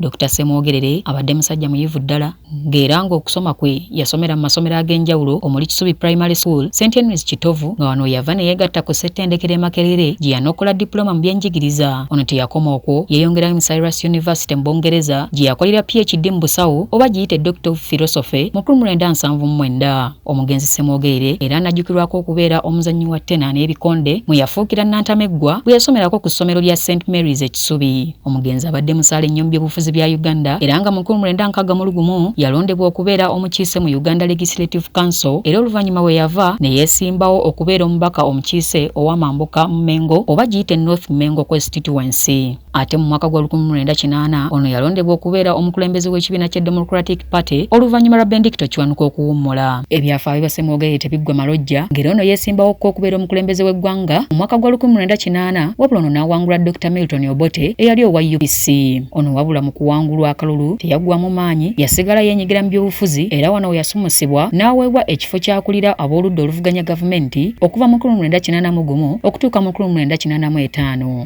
Dokita Ssemwogerere abadde musajja muyivu ddala ng'era ng'okusoma kwe yasomera mu masomero ag'enjawulo omuli Kisubi Primary School, St Henry's Kitovu nga wano we yava ne yeegatta ku ssettendekero e Makerere gye yanokola dipuloma mu byenjigiriza. Ono teyakoma okwo, yeeyongerayo mu Cyrus University mu Bungereza gye yakolera PHD mu busawo oba giyite Doctor of Philosophy mu krum lwenda nsanvu mu mwenda. Omugenzi Ssemwogerere era anajjukirwako okubeera omuzannyi wa ttena n'ebikonde mwe yafuukira Nnantameggwa bwe yasomerako ku ssomero lya St Mary's e Kisubi. Omugenzi abadde musaale nnyo mu byobufuzi bya Uganda era nga mu nkumi mwenda nkaaga mu lugumu yalondebwa okubeera omukiise mu Uganda Legislative Council era oluvannyuma we yava ne yeesimbawo okubeera omubaka omukiise ow'amambuka mu Mmengo oba giyite North Mmengo Constituency. Ate mu mwaka gwa 1980 ono yalondebwa okubeera omukulembeze w'ekibiina kya Democratic Party oluvannyuma lwa Bendicto Kiwanuka okuwummula. Ebyafaayo bya Ssemwogerere tebiggwa malojja ng'era ono yeesimbawo ko okubeera omukulembeze w'eggwanga mu mwaka gwa 1980 wabula ono n'awangula Dokita Milton Obote eyali owa UPC. Ono wabula mu kuwangulwa akalulu teyaggwamu maanyi, yasigala yeenyigira mu byobufuzi era wano we yasumusibwa n'aweebwa ekifo ky'akulira ab'oludda oluvuganya gavumenti okuva mu 1981 okutuuka mu 1985.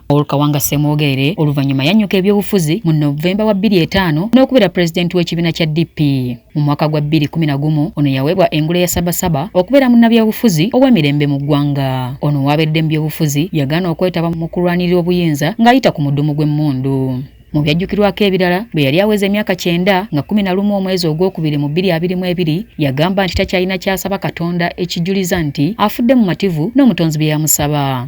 Paul Kawanga Ssemwogerere oluvannyuma yannyuka ebyobufuzi mu Novemba wa 25 n'okubeera pulezidenti w'ekibiina kya DP. Mu mwaka gwa 2011 ono yaweebwa engule ya Sabasaba okubeera munnabyabufuzi ow'emirembe mu ggwanga. Ono waabedde mu byobufuzi yagaana okwetaba mu kulwanirira obuyinza ng'ayita ku mudumu gw'emmundu. Mu byajjukirwako ebirala bwe yali aweza emyaka kyenda nga kumi na lumu omwezi ogwokubiri mu bbiri abiri mu ebiri yagamba nti takyalina kyasaba Katonda ekijuliza nti afudde mumativu n'omutonzi bye yamusaba.